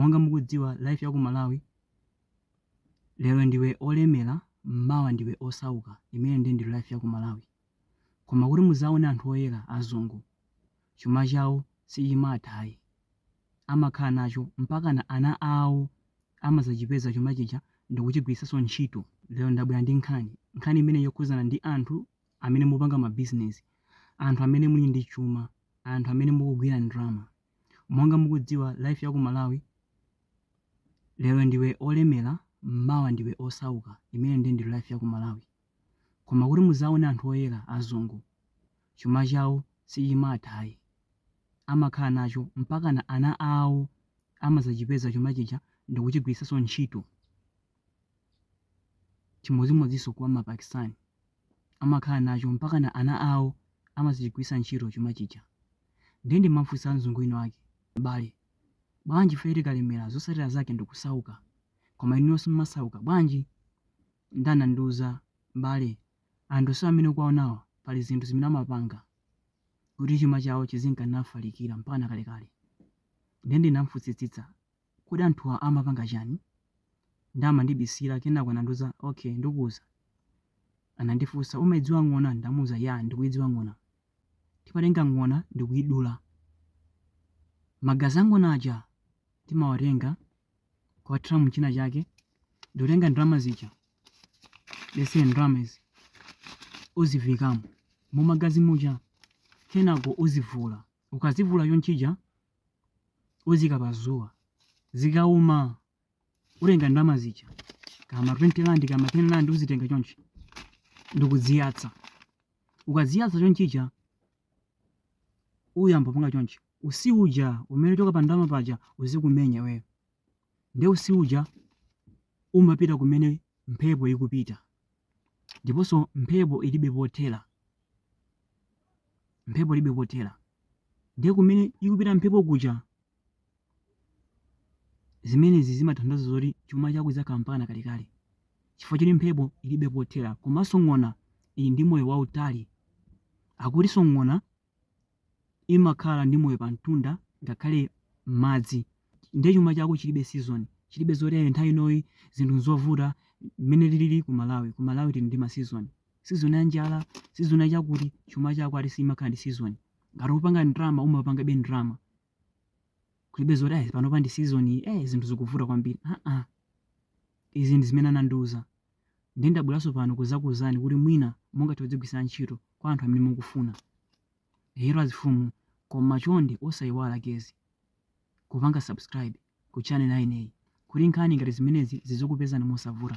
monga mukudziwa life ya ku malawi lero ndiwe olemera mawa ndiwe osauka imene ndi ndi life ya ku malawi koma kuti muzaone anthu oyera azungu chuma chawo sichimatha ayi amakhala nacho mpakana ana awo amazachipeza chuma chija ndikuchigwiritsanso ntchito lero ndabwera ndi nkhani nkhani imene ikukhuzana ndi anthu amene mupanga mabizinesi anthu amene muli ndi chuma anthu amene mukugwira ndalama Monga mukudziwa life ya ku Malawi lero ndiwe olemera mawa ndiwe osauka imene ndiye ndi life ya ku Malawi. Koma kuti muzaone anthu oyera azungu chuma chawo sichimatha ayi amakhala nacho mpakana ana awo amazachipeza chuma chija ndikuchigwiritsanso ntchito. Chimodzimodzinso kwa ma Pakistan amakhala nacho mpakana ana awo amazachigwiritsa ntchito chuma chija. Ndiye ndinamufunsa mzungu wina wake, m'bale, bwanji ifeyo tikalemera zotsatira zake ndi kusauka, koma inuyo simumasauka, bwanji? Ndiye anandiuza, m'bale, anthu onsewa amene ukuwaonawa pali zinthu zimene amapanga kuti chuma chawo chizinka nafalikira mpakana kalekale. Ndiye ndinamufunsitsitsa kodi anthuwa amapanga chani? nde amandibisira kenako anandiuza ok ndikuuza anandifunsa umaidziwa ng'ona ndinamuuza yaa ndikuidziwa ng'ona timatenga ng'ona ndikuidula magazi a ng'ona aja timawatenga kuwathira muchina chake ndikutenga ndalama zija let's say ndalama izi uziviikamo mumagazi muja kenako uzivula ukazivula chonchija uziika pa dzuwa zikauma uzitenga ndalama zija kama 20 rand kama 10 rand uzitenga chonchi ndikuziyatsa ukaziyatsa chonchija uyamba kupanga chonchi utsi uja umene ukuchoka pa ndalama paja uzikumenya iweyo nde utsi uja umapita kumene mphepo ikupita ndiponso mphepo ilibe pothera mphepo ilibe pothera Ndiye kumene ikupita mphepo kuja, zimenezi zimatanthauza zoti chuma chako chidzakhala mpakana kalekale, chifukwa choti mphepo ilibe pothera. Komanso ng'ona ili ndi moyo wautali. Akutinso ng'ona imakhala ndi moyo pamtunda ngakhale m'madzi. Ndiye chuma chako chilibe season, chilibe zoti nthawi inoyi zinthu n'zovuta. Mmene tilili ku Malawi, ku Malawi tili ndi ma season. season ya njala season ya chakuti chuma chako ati simakhala ndi season ngati upanga ndrama umapangabe ndrama kulibe zoti ayi panopa ndi season iyi eh zinthu zikuvuta kwambiri aa izi ndi zimene anandiuza ndiye ndabweranso pano kuzakuuzani kuti mwina mungathe kudzigwiritsa ntchito kwa anthu amene mukufuna hello azimfumu koma chonde osayiwala guys kupanga subscribe ku channel yaineyi kuti nkhani ngati zimenezi zizikupezani mosavuta